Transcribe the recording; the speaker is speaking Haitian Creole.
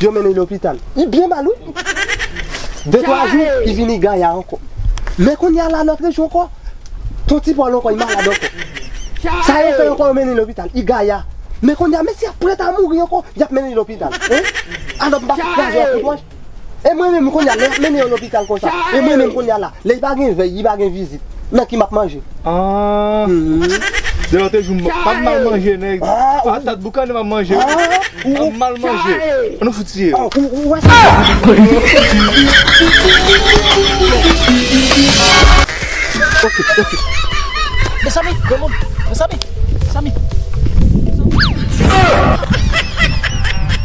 Yo mennen lopital. Li byen mal wi. De twa jou, li vini gaya ankò. Men kounye a la lòt rejyon ankò. Ton Ti Pòl ankò, li malad ankò. Sa yo fè ankò, yo mennen l lopital. Li gaya. Men kounye a, mensi a prèt a mouri ankò, y ap mennen l lopital. Alò m pa kraze yon kout wòch? E mwen menm kounya lè yap mennen yon lopital konsa e mwen menm kounya la lè pa gen vèy li pa gen vizit nan ki map manje aah. Lè yo te joum pap mal manje nèg patat boukannen map manje wi pap mal manje an nou fout tiye yo.